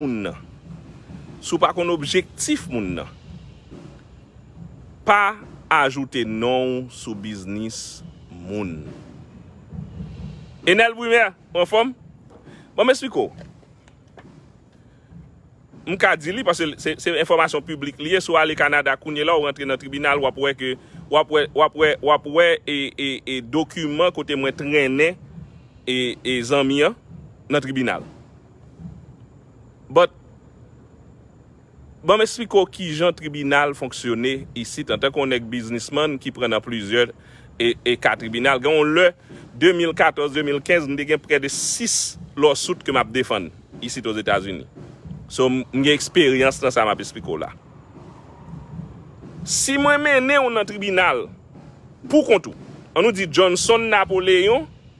moun nan, si w pa konn objektif moun nan, pa ajoute non w sou biznis moun. Enel Brumaire, ou anfòm? Bon m esplike w. M ka di li paske se enfòmasyon piblik li ye, si w ale Kanada kounye la w rantre nan tribinal w ap wè ke, w ap wè, w ap wè, w ap wè e dokiman kote mwen trennen e zanmi an nan tribinal. But, banm esplike w kijan tribinal fonksyone isit antanke yon nèg biznisman ki pran nan plizyè e ka tribinal. Gen yon lè, 2014, 2015, m te gen prè de 6 lawsuit ke m ap defann isit Ozetazini. So, m gen eksperyans nan sa m ap esplike w la. Si mwen mennen w nan tribinal, pou kont ou, an nou di Johnson Napoléon,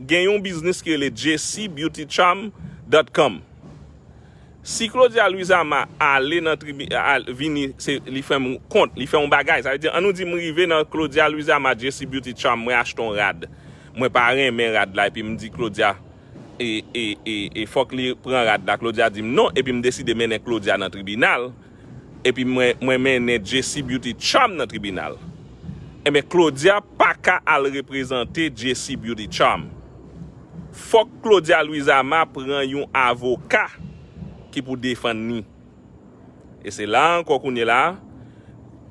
gen yon biznis ki rele jcbeautycharm dot com si claudia louisama ale nan tribi al vini se li fè m kont li fè yon bagay sa vle di an nou di m rive nan claudia louisama jcbeautycharm mwen achte yon rad mwen pa renmen rad la epi m di claudia e e e fòk li pran rad la claudia di m non epi m deside mennen claudia nan tribinal epi mwen mennen Jessie Beauty Charm nan tribinal enben Claudia paka al reprezante Jessie Beauty Charm fòk Claudia Louisama pran yon avoka ki pou defann ni e se la ankò kounye la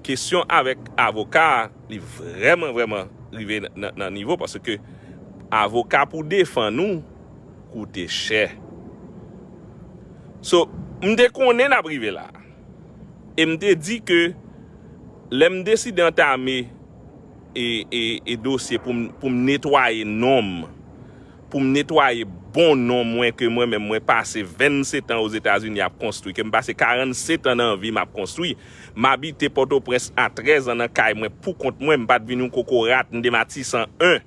kesyon avèk avoka li vrèman vrèman rive nan nivo paske avoka pou defann ou koute chè. So, m te konnen n ap rive la. E m te di ke lè m deside antame e dosye pou m netwaye non m, pou m netwaye bon non mwen ke mwen menm mwen pase 27 an Ozetazini ap konstwi, ke m pase 47 an nan vi m ap konstwi. M abite Pòtoprens a 13 an nan kay mwen pou kont mwen, m pa t vin yon kokorat, m de Matisan 1.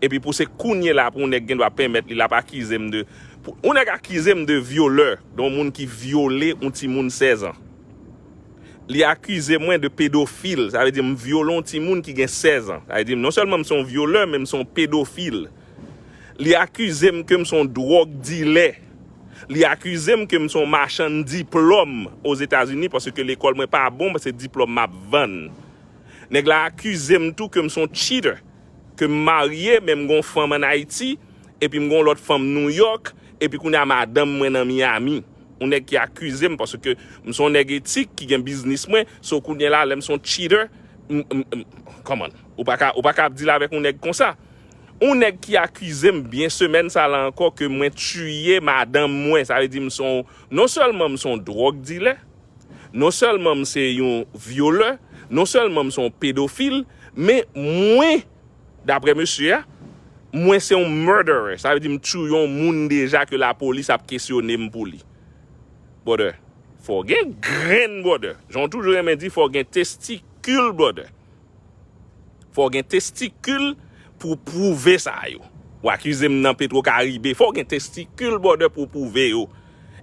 Epi pou se kounye la pou yon nèg gendwa penmèt li lap akize m de, pou yon nèg akize m de vyolè, de yon moun ki vyole yon timoun 16 ans. Li akize mwen de pedofil, sa vle di m vyole yon timoun ki gen 16 ans. Sa vle di non sèlman m se yon vyolè men m se yon pedofil. Li akize m ke m se yon dwòg dilè. Li akize m ke m se yon machann diplòm Ozetazini paske lekòl mwen pa bon men se diplòm map vann. Nèg la akize m tou ke m se yon cheater. ke m marye men m gen yon fanm an Ayiti epi m gen yon lòt fanm New York epi kounye a madanm mwen nan Miami. Yon nèg ki akize m paske m se yon nèg etik ki gen biznis mwen so kounye la lè m se yon cheater m m come on ou pa ka ou pa ka ap dil avèk yon nèg konsa. Yon nèg ki akize m byen semèn sa la ankò ke mwen tiye madanm mwen sa vle di m se yon non sèlman m se yon drug dilè. Non sèlman m se yon vyolè, non sèlman m se yon pedofil, men mwen, daprè mesye a, mwen se yon murderer. Sa vle di m touye yon moun deja ke lapolis ap kesyone m pou li. Brother, fò w gen grenn brother. Jan w toujou renmen di fò w gen testicule brother. Fòw gen testikil pou w pwouve sa yo. Ou akize m nan petro karibe. Fòw gen testikil brother pou w pwouve yo.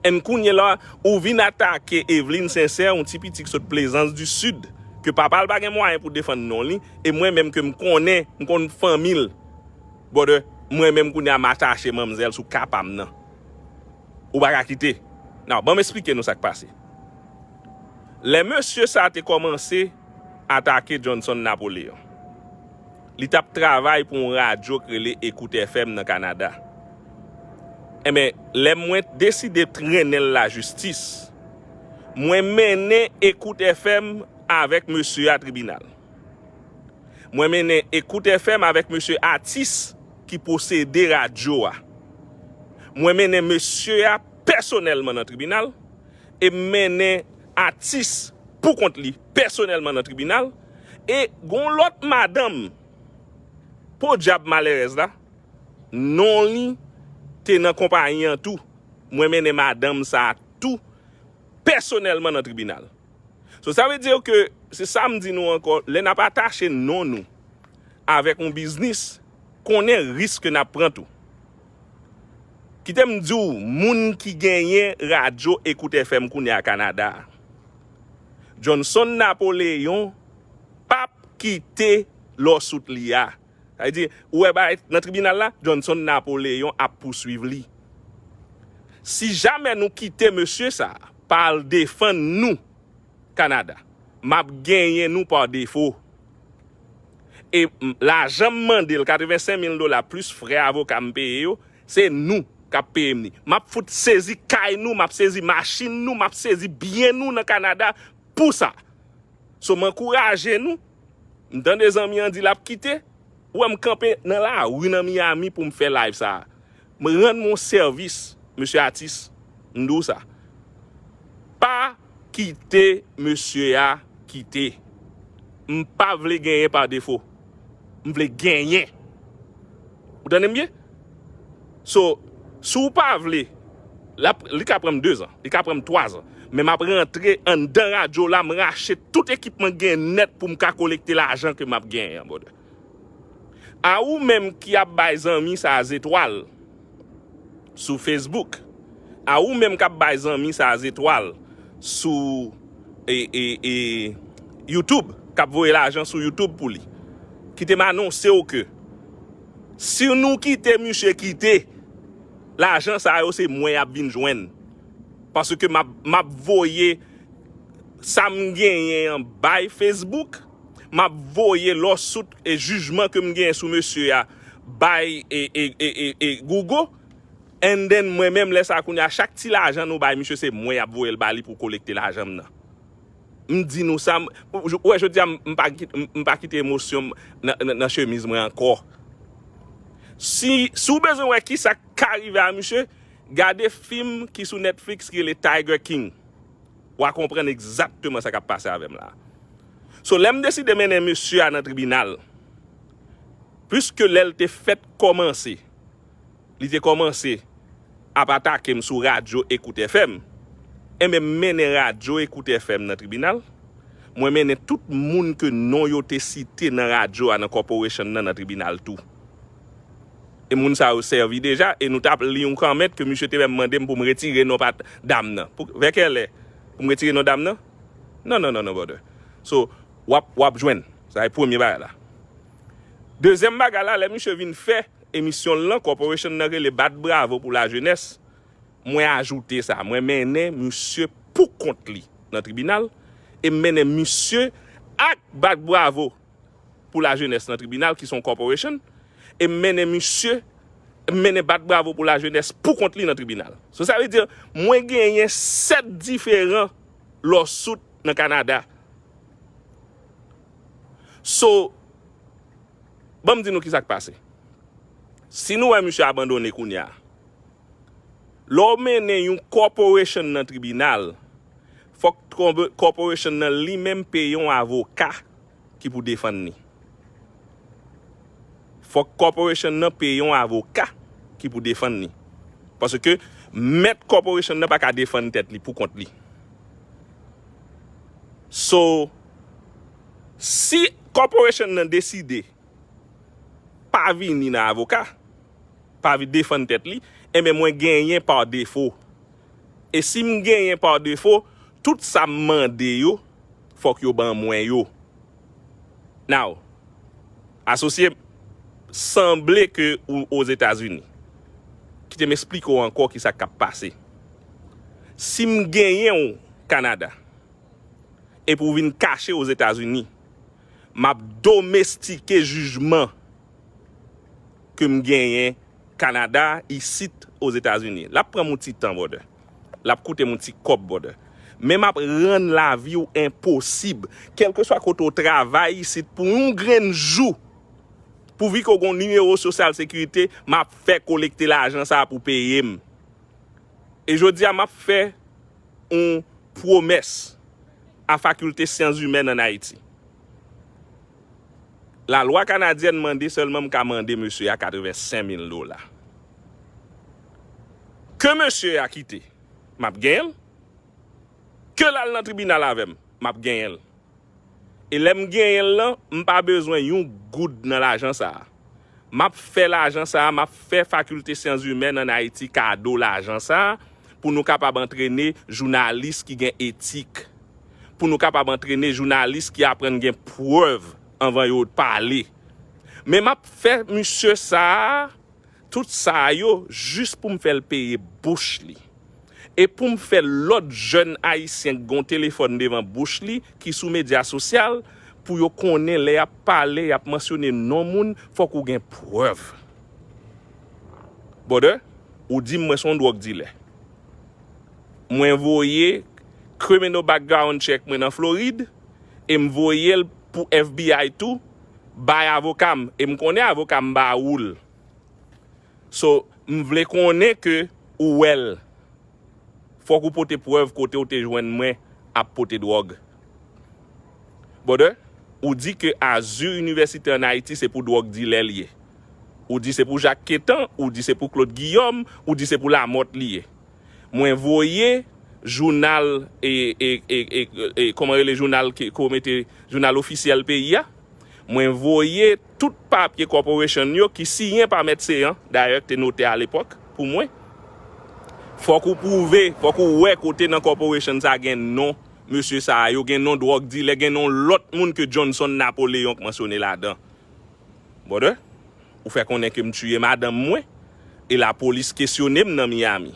And kounye la ou vin atake Eveline Sincère yon ti piti ki sot plezans du sud ke papa l pa gen mwayen pou defann non li e mwen menm ke m konnen m konn fanmi l brother mwen menm kounye a m atache manmzèl sou ka pa m nan. Ou pa ka kite. Now banm esplike nou sa k pase. Lè mesye sa te kòmanse. atake Johnson Napoléon. Li t ap travay pou yon radyo k rele Écoute FM nan Kanada. Enben, lè mwen deside trennen l lajistis, mwen mennen Écoute FM avèk mesye a tribinal. Mwen mennen Écoute FM avèk mesye atis ki posede radyo a. Mwen mennen mesye a pèsonèlman nan tribinal e m mennen. atis pou kont li pèsonèlman nan tribinal e gon lòt madanm podyab malèrèz la non li te nan konpayi an tou mwen mennen madanm sa tou pèsonèlman nan tribinal so sa vle dir ke se sa m di nou ankò lè nap atache non nou avèk yon biznis konnen risk ke nap pran tou. Kite m di w moun ki genyen radyo Ecout FM kounye a Kanada a. Johnson Napoléon p ap kite lawsuit li a. Sa vle di, ou wè bagay nan tribinal la, Johnson Napoléon ap pouswiv li. Si jamè nou kite mesye sa a pa al defann nou Kanada, m ap genyen nou pa defo. E lajan m mande l, 85 mil dola plis frè avoka m peye yo, se nou k ap peye m li. M ap fout sezi kay nou, m ap sezi machin nou, m ap sezi byen nou nan Kanada pou sa. So m ankouraje nou, m tande zanmi an di l ap kite, ou wè m kanpe nan lari nan Miami pou m fè live sa a. M rann mwen sèvis mesye atis m di w sa pa kite mesye a kite m pa vle genyen pa defo m vle genyen ou tande m byen so si w pa vle lap li ka pran m 2 zan li ka pran m 3 zan men map rantre anndan radyo la m rache tout ekipman gen nèt pou m ka kolekte lajan ke map genyen an brother. A ou menm ki ap bay zanmi sa zetwal sou Facebook, a ou menm kap bay zanmi sa zetwal sou YouTube, kap voye lajan sou YouTube pou li. Kite m anonse w ke si nou kite misye kite, lajan sa yo se mwen yap vin jwenn. Paske map voye sa m genyen an bay Facebook. m ap voye lawsuit e jijman ke m genyen sou mesye a bay Google and then mwen menm lè sa kounye a chak ti lajan nou bay misye se mwen y ap voye l ba li pou kolekte lajan m nan. M di nou sa m ou wè jodi a m pa m pa kite emosyon m nan chemiz mwen ankò. Si si w bezwen wè ki sa k ka rive a misye gade fim ki sou Netflix ki rele Tiger King. Wa konprann egzakteman sa kap pase avèm la. So lèm deside mennen mesye a nan tribinal, pwiske lèl te fèt kòmanse, li te kòmanse ap atakem sou radyo Ecoute FM, enben m mennen radyo Ecoute FM nan tribinal, mwen mennen tout moun ke non yo te site nan radyo a nan corporation nan nan tribinal tou. e moun sa yo sèvi deja e nou tap li yon kòment ke misye te menm mandem poum retire non pat dam nan vè kèlè poum retire non dam nan non non non brother so wap wap jwenn sa e premye bagay la dezyèm bagay la lè misye vin fè emisyon l lan corporation nan rele bat bravo pou la jenès mwen ajoute sa mwen mennen misye pou kont li nan tribinal e m mennen misye ak bat bravo pou la jenès nan tribinal ki son corporation e m mennen misye m mennen bat bravo pou la jenès pou kont li nan tribinal so sa vle di mwen genyen 7 diferan lawsuit nan Canada so ban m di nou kisa k pase si nou wè misye abandone kounya lè w mennen yon corporation nan tribinal Fòk corporation nan li menm peye yon avoka ki pou defann li. Fòk corporation nan peye yon avoka ki pou defann li. Paske mèt corporation nan pa ka defann tèt li pou kont li. So, si corporation nan deside pa vini nan avoka, pa defann tèt li, enben mwen genyen par défaut E si m genyen pa defo, tout sa m mande yo, fòk yo ban mwen yo. Now, asosye m, sanble ke ou Ozetazini. Kite m esplike w ankò ki sa k ap pase. Si m genyen w Kanada, epi w vin kache Ozetazini, m ap domestike jijman. ke m genyen Kanada isit Ozetazini. L ap pran m yon ti tan brother. L ap koute m yon ti kòb brother. Men m ap rann lavi w enposib. Kèlkeswa kote w travay isit pou yon grenn jou, pouvi ke w gen yon nimewo sosyal sekirite, m ap fè kolekte lajan sa pou w peye m. E jodi a m ap fè yon pwomès a Fakilte Syanzimèn ann Ayiti. La lwa kanadyèn mande sèlman m ka mande mesye a 85 mil dola. Ke mesye a kite, m ap genyen l. Ke l al nan tribinal avè m, m ap genyen l. E lè m genyen l lan, m pa bezwen yon goud nan lajan sa a. M ap fè lajan sa a, m ap fè Fakilte Syanzimèn ann Ayiti kado lajan sa a pou nou kapab antrene jounalis ki gen etik, pou nou kapab antrene jounalis ki aprann gen prèv anvan yo pale. Men m ap fè misye sa a tout sa yo jis pou m fè l peye bouch li. E pou m fè lòt jèn ayisyen k gon telefòn devan bouch li ki sou medya sosyal pou yo konnen lè y ap pale y ap mansyone non moun fòk ou gen prèv. Brother ou di m mwen son dwòg dilè. Mwen voye criminal background check mwen nan Florid e m voye l pou FBI tou bay avoka m e m konnen avoka m ba ou l. So m vle konnen ke ou wè l. Fok ou pote prèv kote ou te jwenn mwen ap pote drog. Brother, ou di ke azur universite an Ayiti se pou drog dilè l ye. Ou di se pou Jacques Quetan, ou di se pou Claude Guillaume, ou di se pou Lamothe li ye. Mwen voye jounal e koman rele jounal ke ou mete jounal ofisyèl peyi a. Mwen voye Tout papye corporation yo ki siyen pa Mèt Céant, dayè ki te notè alepòk pou mwen, fòk ou pwouve, fòk ou wè kote nan corporation sa gen non mesye sa yo, gen non dwòg dilè, gen non lòt moun ke Johnson Napoléon k mansyone ladan. Brother, ou fè konnen ke m tiye madanm mwen e lapolis kesyone m nan Miami.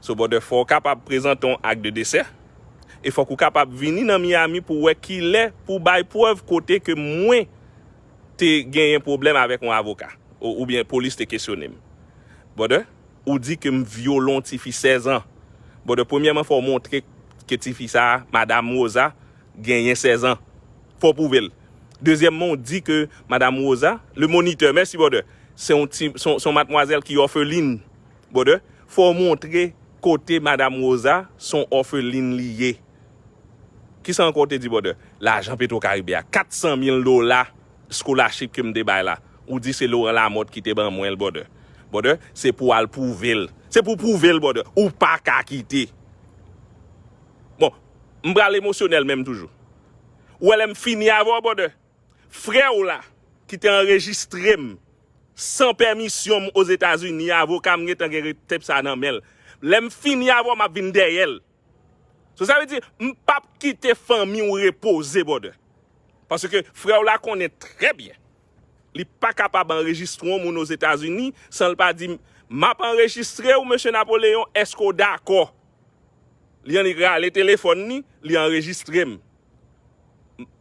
So brother fò w kapab prezante yon ak de desè e fòk ou kapab vini nan Miami pou wè kilè pou bay prèv kote ke mwen te genyen pwoblèm avèk yon avoka oubyen polis te kesyone m. Brother, ou di ke m vyole yon tifi 16 ans. Brother, premyèman fò w montre ke tifi sa a, madam Rosa, genyen 16 ans. Fò w pwouve l. Dezyèmman w di ke madam Rosa, le moniteur, merci brother, se yon ti, se yon matmwazèl ki orpheline. Brother, fò w montre kote Madam Rosa son òfelin li ye. Kisa ankò w te di brother? Lajan Petro Caribe a, 400 mil dola scholarship ke m te bay la, ou di se Laurent Lamothe ki te ban mwen l brother. Brother, se pou w al pwouve l. Se pou w pwouve l brother. Ou pa ka kite. Bon, m pral emosyonèl menm toujou. Ou wè lè m fini avè w brother? Frè w la ki te anrejistre m san pèmisyon m Ozetazini a, avoka m gentan gen tep sa nan men l. Lè m fini avè w m ap vin dèyè l. So sa vle di m p ap kite fanmi w repoze brother. Paske frè w la konnen trè byen li pa kapab anrejistre yon moun Ozetazini san l pa di m m ap anrejistre w Mesye Napoleon èske w dakò? Li annik rale telefòn li, li anrejistre m.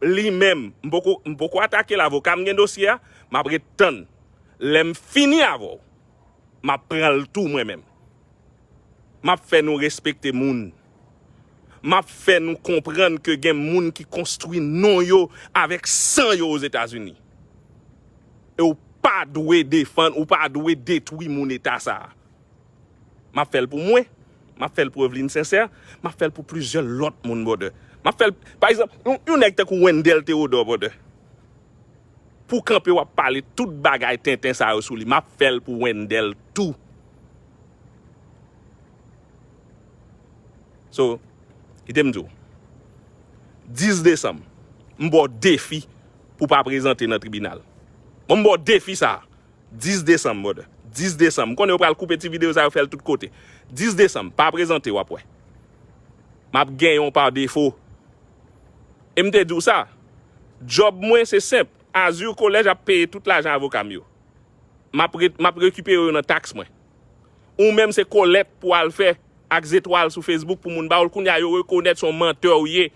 li menm m poko m poko atakel avoka m gen dosye a map ret tann lèm fini avèw map pranl tou mwen menm map fè nou respekte moun map fè nou konprann ke gen moun ki konstwi non yo avèk san yo ozetazini e ou pa dwe defann ou pa dwe detwi moun eta sa. M ap fè l pou mwen. M ap fè l pou Evelyne Sincère. M ap fè l pou plizyè lòt moun, brother. M ap fè l, pa egzanp, yon nèg tankou Wendell Theodore, brother. Pou w kanpe w ap pale tout bagay tenten sa yo sou li. M ap fè l pou Wendell tou. So, kite m di w. 10 desanm, m ba w defi pou w pa prezante nan tribinal. Bon, m ba w defi sa a. 10 desanm brother 10 desanm m konnen yo pral koupe ti video sa yo fèl tout kote 10 desanm pa prezante wap wè map genyen w par defo e m te diw sa job mwen se senp azur college ap peye tout lajan avoka m yo map ret map rekipere yo nan tax mwen ou menm se kolèt pou al fè ak zetwal sou facebook pou moun ba w l kounya yo rekonèt son menteur w ye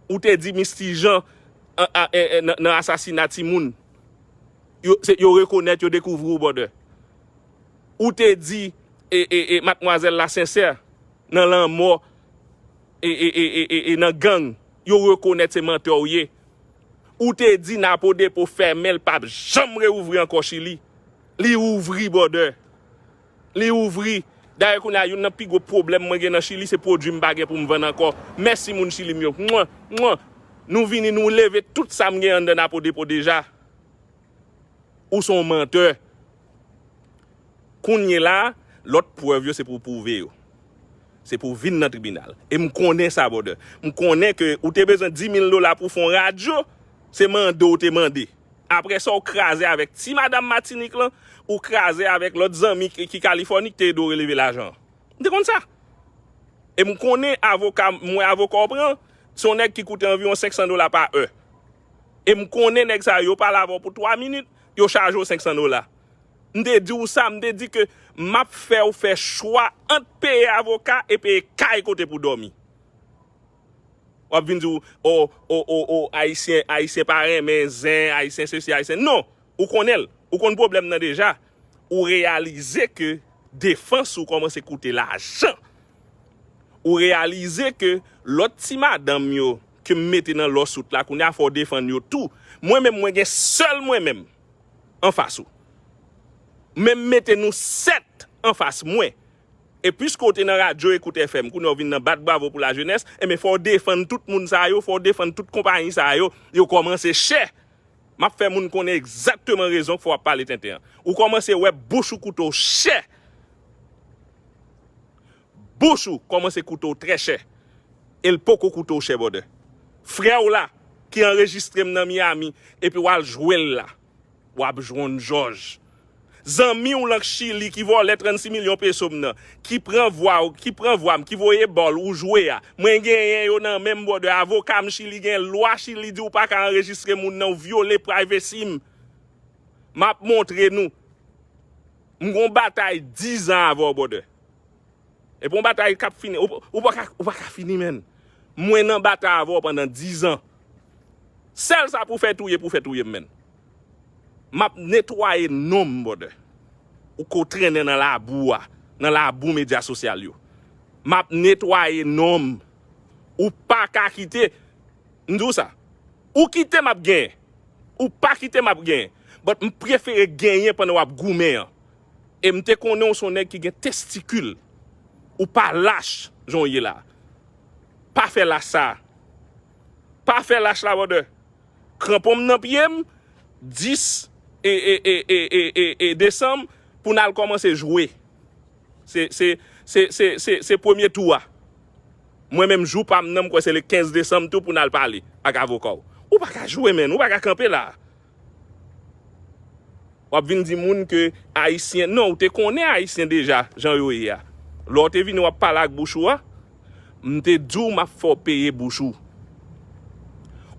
ou te di Misty Jean nan asasina timoun. Yo se yo rekonèt yo dekouvri w bòdè. Ou te di e e e matmwazèl la sensè nan lanmò e e e e e e nan gang yo rekonèt se mantè w ye. Ou te di napo depo fèmen l pap janm reouvri ankò chili li ouvri bòdè. Li ouvri. Dayè kounye a youn nan pi gwo pwoblèm mwen gen nan Chili se pwodui m pa gen pou m vann ankò. Mèsi moun Chili m yo. Mwah! Mwah! Nou vini nou leve tout sa m gen anndan Napo Depo deja. Ou s on mantè. Kounyela a, lòt prèv yo se pou w pwouve yo. Se pou w vin nan tribinal. E m konnen sa brother. M konnen ke ou te bezwen 10 mil dola pou w fè on radyo, se mande w te mande. Aprè sa ou kraze avèk ti madam Matinik lan, ou kraze avèk lòt zanmi ki Kalifòni ki te ede w releve lajan an. M te konn sa. E m konnen avoka, m wè avoka w pran, se yon nèg ki koute anviwon 500 dola pa è. E m konnen nèg sa yo, yo pale avè w pou 3 minit, yo chaje w 500 dola. M te di w sa, m te di ke m ap fè w fè chwa ant peye avoka e peye kay kote pou dòmi. Wap vin di w oh oh oh oh ayisyen ayisyen pa renmen zen ayisyen sesi ayisyen non ou konnen l ou konn pwoblèm nan deja ou reyalize ke defans ou kòmanse koute lajan ou reyalize ke lòt ti madanm yo ke m mete nan lawsuit la kounye a fò w defann yo tou mwen menm mwen gen sèl mwen menm anfas ou men m mete nou 7 anfas mwen E piske w te nan radyo Ecoute FM, kounye a w vin nan bat bravo pou la jenès, enben fò w defann tout moun sa yo, fò w defann tout konpayi sa yo, yo kòmanse chè! M ap fè moun konnen egzakteman rezon k fè w ap pale tenten an. Ou kòmanse wè bouch ou koute w chè! Bouch ou kòmanse koute w trè chè! E l poko koute w chè bòdè! Frè w la, ki anrejistre m nan Miami, epi w al jwe l la. Wap jwonn jòj. Zanmi w lank chili ki vòlè 36 milyon peso m nan, ki pran vwa w, ki pran vwa m, ki voye bòl ou jwe a, mwen genyen yo nan men m brother, avoka m chili genyen, lwa chili di w pa ka anrejistre moun nan, w vyole privacy m. Map montre nou. M gon batay 10 ans avè w brother. Epi yon batay kap fini. Ou pa ka fini menn. Mwen nan batay avè w pandan 10 ans. Sèl sa pou fè touye pou fè touye m menn. Map netwaye non m brother. Ou ko trennen nan labou a. Nan labou medya sosyal yo. Map netwaye non m. Ou pa ka kite. M di w sa. Ou kite map genyen. Ou pa kite map genyen. But m prefere genyen pandan wap goumen an. E m te konnen w se yon nèg ki gen testikil. Ou pa lach jan w ye la. Pa fè lach sa. Pa fè lach la brother. Kranpon m nan pye m, 10 desanm pou n al kòmanse jwe. Se se se se se se premye tou a. Mwen menm jou pa m nan m kwè se le 15 desanm tou pou n al pale ak avoka w. Ou pa ka jwe menn. Ou pa ka kanpe la. Wap vin di moun ke ayisyen, non ou te konnen ayisyen deja jan yo ye a. Lè w te vini wap pale ak bouch ou a, m te di w map fè w peye bouch ou.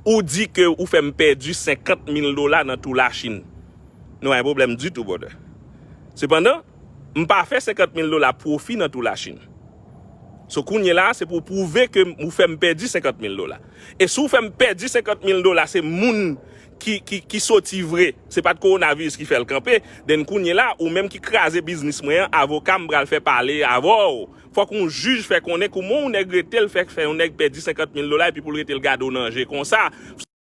Ou di ke ou fè m pèdi 50 mil dola nan tou la Chine. Nou pa gen pwoblèm ditou brother. Sepandan, m pa fè 50 mil dola pwofi nan tou la Chine. So kounye la a se pou w pwouve ke ou fè m pèdi 50 mil dola. E si w fè m pèdi 50 mil dola se moun ki soti vre, se pa t kowonaviris ki fè l kanpe, then kounye la a ou menm ki kraze biznis mwen an, avoka m pral fè pale avè w. Fòk yon jij fè konnen kouman yon nèg rete l fè yon nèg pèdi 50 mil dola epi pou l rete l gade w nan je konsa.